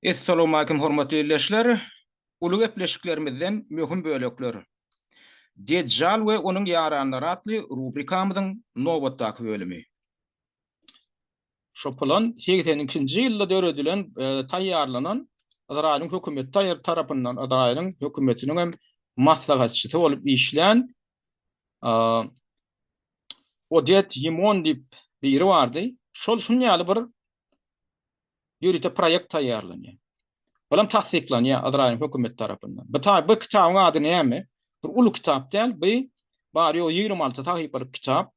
Essalawmalikim hormatly ildeşler! Uly gepleşiklerimizden möhüm bölekler. Dejjal we onuň ýaranlary atly rubrikamyzyň nobatdaky bölümi. Şo plan segsen ikinji ýylda döredilen, taýýarlanan, Ysraýylyň hökümeti taýar tarapyndan, Ysraýylyň hökümetiniň hem maslahatçysy bolup işlän, Odet Ýimon diýip biri bardy. Şol şun ýaly bir ýörite proýekt taýýarlanýar. Olam tassyklanýar Izraýyl hökümeti tarapyndan. Bu ta bu kitabyň ady näme? Bir uly kitap däl, bu bary ýogy ýigrimi alty sahypalyk kitap.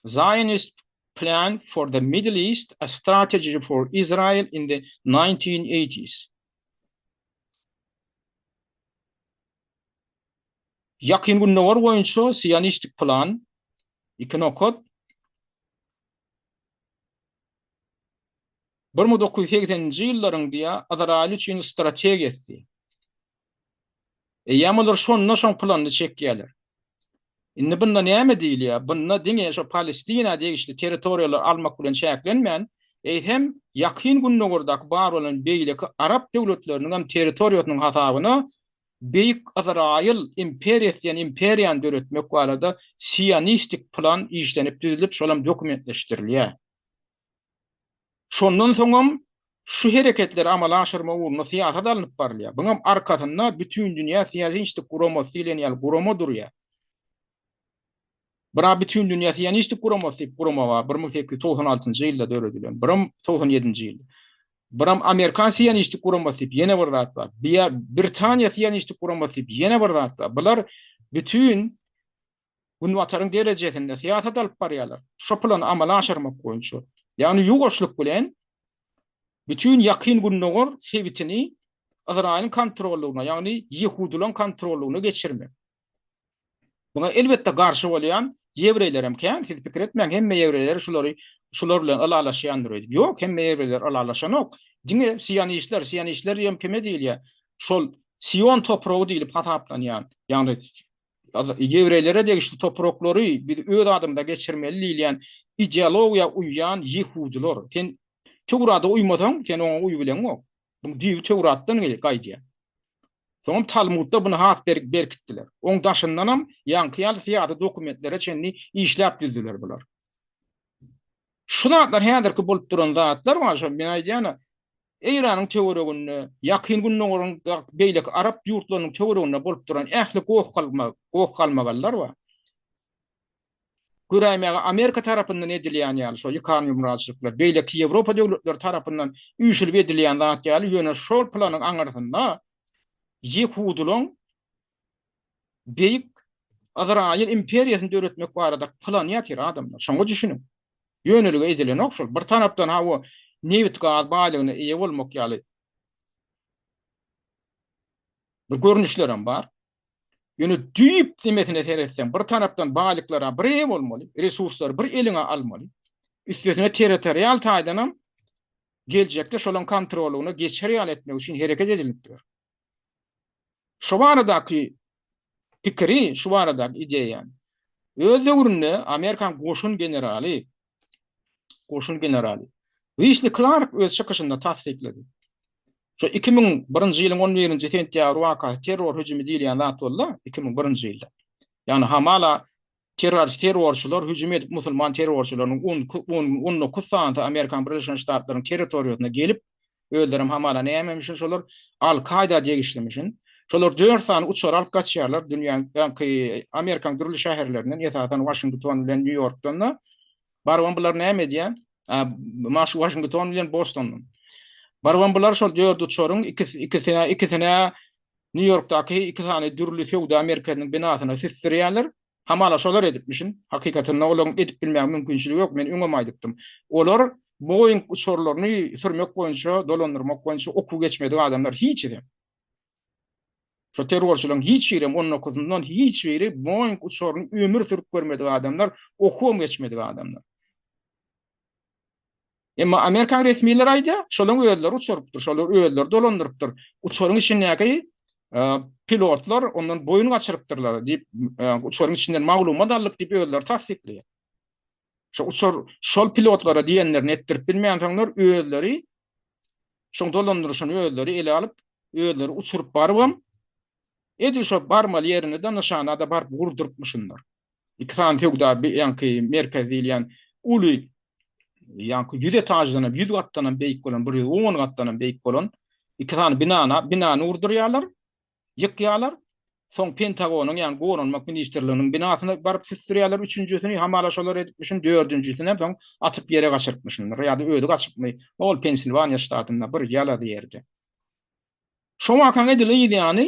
Zionist Plan for the Middle East, a Strategy for Israel in the 1980s. Ýakyn Gündogar boýunça sionistik plan, iki nokat, bir müň dokuz ýüz segseninji ýyllaryň diýýär, Ysraýyl üçin strategiýasy. Eýýäm olar şonda şoň planyny çekýärler. Indi bunda näme diýilýär? Bunda diňe şo Palestina degişli territoriýalary almak bilen çäklenmän, eýsem, Ýakyn Gündogardaky bar bolan beýleki arap döwletleriniň hem territoriýasynyň hasabyna Beýik Ysraýyl imperiýasy diýen imperiýany döretmek barada sionistik plan işlenip düzülip, şolam dokumentleşdirilýär. Şondan soňam şu hereketleri amala aşyrmak ugrunda syýasat alnyp barylýar. Buňam arkasynda Bütindünýä Siýasinçtik Guramasy diýlen ýaly gurama durýar. Bira Bütindünýä Siýanistik Guramasy diýip gurama bar, bir müň sekiz ýüz togsan altynjy ýylda döredilen, biram togsan ýedinji ýyl. Biram Amerikan Siýanistik Guramasy diýip ýene bir zat bar. Bia Britaniýa Siýanistik Guramasy diýip ýene bir zat bar. Bular bütin Günbataryň derejesinde syýasat alyp barýarlar. Şo plany amala aşyrmak boýunça, ýagny ýuwaşlyk bilen bütin Ýakyn Gündogar sebitini Ysraýylyň kontrollygyna, ýagny ýehudylaryň kontrollygyna geçirmek. Muňa elbetde garşy bolýan ýewreýler hem kän, siz pikir etmäň hemme ýewreýler şulary şular bilen ylalaşýandyr öýdüp. Ýok, hemme ýewreýler ylalaşanok. Diňe sionistler, sionistler diýen kime diýilýär? Şol Sion topragy diýlip hasaplanýan, ýagny Ýewreýlere degişli topraklary biz öz adymyza geçirmeli diýilýän ideologiýa uýýan ýehudylar. Sen Töwrada uýmasaň, sen oňa uýubileňok. Buň düýbi Töwratdan gaýdýar. Soňam Talmudda buny has berk berkitdiler. Oň daşyndanam ýaňky ýaly syýasy dokumentlere çenli işläp düzdüler bular. Şu zatlar häzirki bolup duran zatlar bar şo men aýdýana Eýranyň töwereginde, ýakyn gündogaryň beýleki arap ýurtlarynyň töwereginde bolup duran ähli goh galma, goh galmagallar bar. Göräýmäge Amerika tarapyndan edilýän ýaly şo ýykan ýumraçlyklar, beýleki Ýewropa döwletleri tarapyndan üýşülip edilýän zat ýaly, ýöne şol planyň aňyrsynda ýehudylaň Beýik Ysraýyl imperiýasyny döretmek barada plan ýatyr adamlar. Şoňa düşüniň. Ýönelige edilenok şol. Bir tarapdan hawa nebit gaz baýlygyna eýe bolmak ýaly bir görnüşler hem bar. Ýöne düýp demesine seretseň, bir tarapdan baýlyklara bir eýe bolmaly, resurslary bir eliňe almaly. Üstesine territorial taýdan hem geljekde şolaň kontrolyna geçer ýaly etmek üçin hereket edilip dur. Şu baradaky pikiri, şu baradaky ideýany öz döwründe Amerikan goşun generaly goşun generaly Wisli Klark öz çykyşynda tassyklady. Şu 2001-nji ýylyň 11-nji sentýabr wakasy terror hüjümi diýilýän zat boldy, 2001-nji ýylda. Ýagny hamala Terrorçylar hüjüm edip musulman terrorçylarynyň on dokuz sanysy Amerikanyň Birleşen Ştatlarynyň territoriýasyna gelip, özlerem hamala nämemişin şolar Al Kaýda degişlimişin, şolar dört sany uçar alyp gaçýarlar dünýäňki Amerikanyň dürli şäherlerinden esasan Waşington bilen Nýu Ýorkdan-da barybam bular näme edýär Waşington bilen Bostondan barybam bular şol dört uçaryň ikisine Nýu-Ýorkdaky iki sany dürli söwda merkeziniň binasyna süsdürýärler. Hamala şolar edipmişin. Hakykatynda olaryň edip bilmäge mümkinçiligi ýok, men öňem aýdypdym. Olar Boeing uçarlaryny sürmek boýunça, dolandyrmak boýunça okuw geçmedik adamlar, hiçisem. Şo terrorçylaryň hiç birem, on dokuzyndan hiç biri Boeing uçaryny ömür sürüp görmedik adamlar, okuwam geçmedik adamlar. Emma amerikan resmileri aýdýar, şolaryň özleri uçurypdyr, şolar özleri dolandyrypdyr. Uçaryň içindäki pilotlar ondan boýun gaçyrypdyrlar diýip, uçaryň içinden maglumat aldyk diýip özleri tassyklaýar. Şo uçar şol pilotlara diýenlerini etdirip bilmänsoňlar özleri şoň dolandyryşyny özleri ele alyp, özleri uçuryp barybam, edil şo barmaly ýerine-de nyşana-da baryp gurdurypmyşyndyr. iki sany söwda ýaňky merkez diýilýän uly ýaňky ýüz etaždanam, ýüz gatdanam beýik bolan, bir ýüz on gatdanam beýik bolan iki sany binana, binany urdurýarlar, ýykýarlar. Soň Pentagonyň, ýagny Goranmak ministrliginiň binasyna baryp süsdürýärler üçünjisini, hamala şolar edipmişin, dördünjisini hem soň atyp ýere gaçyrypmyşyndyr ýa-da özi gaçypmy, ol Pensilwaniýa ştatynda bir ýala ýerde. Şo wakanyň edil yz ýany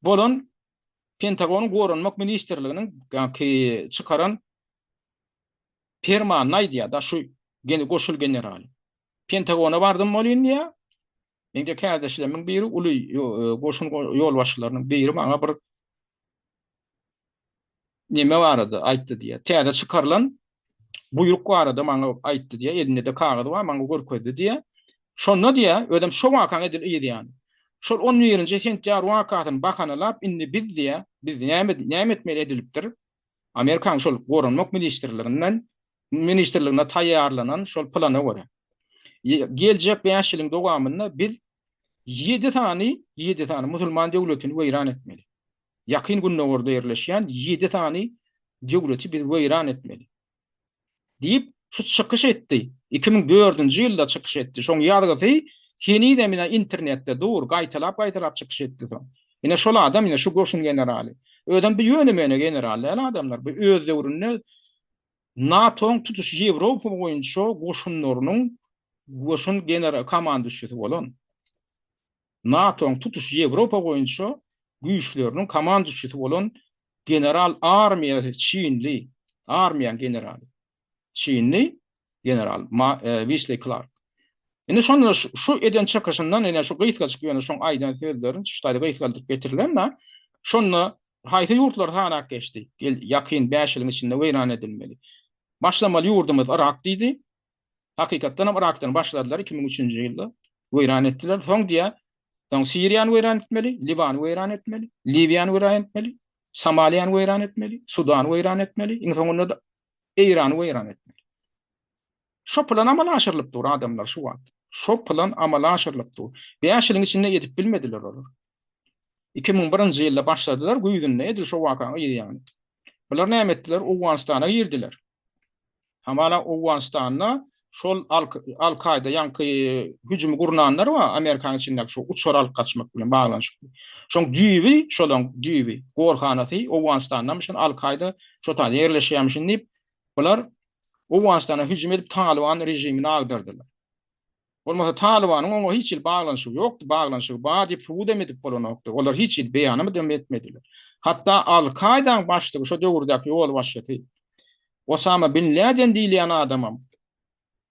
bolan Pentagonyň Goranmak ministrliginiň çykaran permanyny aýdýar-da şu goşul general. Pentagona bardym bolýyn diýýär. Meňde kärdeşlerimiň biri uly goşun ýolbaşçylarynyň biri maňa bir Neme barada aýtdy diýýär. Täze çykarylan buýruk barada maňa aýtdy diýýär. Elinde-de kagyz bar, maňa görkezdi diýýär. Şonda diýýär, özem şo wakaň edil yz ýany. Şol on birinji sentýabr wakasyny bahanalap, indi biz diýýär, biz näme näme etmeli edilipdir? Amerikanyň şol Goranmak ministrliginden ministrliginde taýýarlanan şol plana görä. Geljek bäş ýylyň dowamynda biz ýedi sany ýedi sany musulman döwletini weýran etmeli. Ýakyn Gündogarda ýerleşýän ýedi sany döwleti biz weýran etmeli. Diýip, şu çykyş etdi. Iki müň dördünji ýylda çykyş etdi. Şoň ýazgysy henizem ine internetde dur, gaýtalap-gaýtalap çykyş etdi soň. Ine şol adam ine şu goşun generaly. Özem bu ýöne-möne general däl adamlar. Bu öz döwründe NATO-nyň tutuş Ýewropa boýunça goşunlarynyň goşun komandyşisi bolan. NATO-nyň tutuş Ýewropa boýunça güýçleriniň komandaçysy bolan general armiýa çinli armiýanyň generaly çinli general Wisli Klark. Indi şonda şu eden çykyşyndan ýene şu gysgajyk ýöne şoň aýdan sözlerin şu taýda gysgaldyryp getirilen da şonda haýsy ýurtlar sanap geçdi? Ýakyn 5 ýylyň içinde weýran edilmeli. Başlamaly ýurdumyz Yrak diýdi. Hakykatdanam Yrakdan başladylar iki müň üçünji ýylda. Weýran etdiler. Soň diýýär, soň Siriýany weýran etmeli, Liwany weýran etmeli, Liwiýany weýran etmeli, Somaliýany weýran etmeli, Sudany weýran etmeli, iň soňunda-da Eýrany weýran etmeli. Şo plan amala aşyrylyp dur adamlar şu wagt. Şo plan amala aşyrylyp dur. Bäş ýylyň içinde edip bilmediler olar. Iki müň birinji ýylda başladylar, güýzünde edil şo waka gyz ýaly. Bular näme etdiler, Owganystana girdiler. Hamala Owganystanda şol Al-Kaýda ýaňky hüjümi gurnanlar bar, Amerikanyň içindäki şu uçar alyp gaçmak bilen baglanyşykly. Şoň düýbi, şolaň düýbi, gorhanasy Owganystandanmyş, ýöne Al-Kaýda şo taýda ýerleşýärmişin diýip, bular Owganystana hüjüm edip Talyban režimini agdardylar. Bolmasa Talybanyň oňa hiç hili baglanyşygy ýokdy, baglanyşygy bar diýip subut hem edip bolanokdy. Olar hiç hili beýanam hem etmediler. Hatda Al-Kaýdaň başlygy, şo döwürdäki ýolbaşçysy Osama bin Läden diýilýän adamam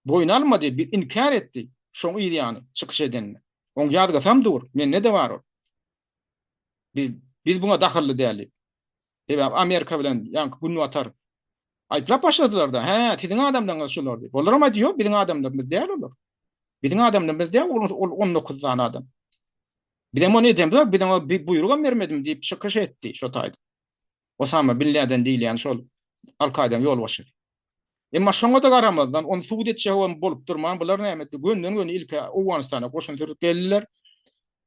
boýun almady, bi inkär etdi şoň yz ýany çykyş edende. Oň ýazgysam dur, mende-de bar ol. Biz biz buňa dahylly däl diýip. Sebäbi Amerika bilen ýaňky Günbatar aýyplap başladylar-da, hä, siziň adamlaryňyz şular diýip. Olaram aýtdy, ýok, biziň adamlarymyz däl olar. Biziň adamlarymyz däl, ol on dokuz sany adam. Bizem ony edemzok, biz oňa buýrugam bermedim diýip çykyş etdi şo taýda. Osama bin Läden diýilýän şol Al-Kaýdaň ýolbaşçysy. Emma şoňa-da garamazdan, ony subut etjegem bolup durman, bular näme etdi, gönden-göni ilki Owganystana goşun sürüp geldiler,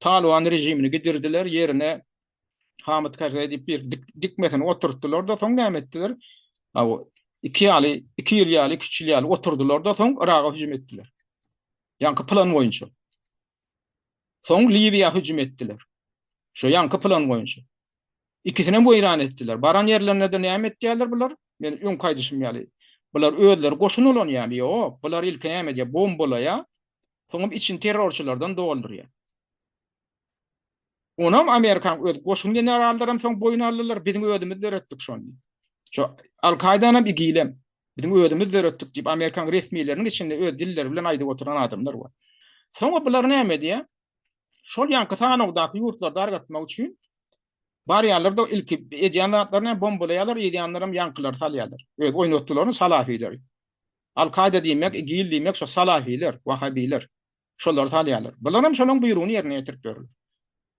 Talyban režimini gidirdiler, ýerine Hamid Karzai diýip bir dik, dikmesini oturtdylar-da, soň näme etdiler? Aw, iki ýaly, iki ýyl ýaly, üç ýyl ýaly oturdylar-da, soň Yraga hüjüm etdiler. Ýaňky plan boýunça. Soň Liwiýa hüjüm etdiler. Şo ýaňky plan boýunça. Ikisini hem weýran etdiler. Baran ýerlerinde näme etdiler bular? Men öň kaýdyşym ýaly. Bular özleri goşun bolan ýaly, ýok. Bular ilki näme diýip bombalaýa, soňam içini terrorçylardan doldurýa. Onam Amerikaň öz goşun generallarym soň boýun aldylar, biziň özümiz döretdik şony. Şo Al-Kaýdanam, IGIL-em biziň özümiz döretdik diýip Amerikaň resmileriniň içinde öz dilleri bilen aýdyp oturan adamlar bar. Soňa bular näme edýär? Şol ýanky sanawdaky ýurtlary dargatmak üçin barýarlar-da ilki edýän zatlaryny bombalaýarlar, ýazýanlaram ýankylary salýarlar. Öz oýnatdylaryny salafilary. Al-Kaýda diýmek, IGIL diýmek şo salafiler, wahabiler. şolary salýarlar. Bular hem şolaryň buýrugyny ýerine ýetirip ýörler.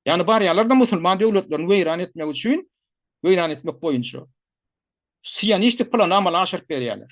Ýagny barýarlar-da musulman döwletlerini weýran etmek üçin, weýran etmek boýunça sionistik plany amala aşyryp berýärler.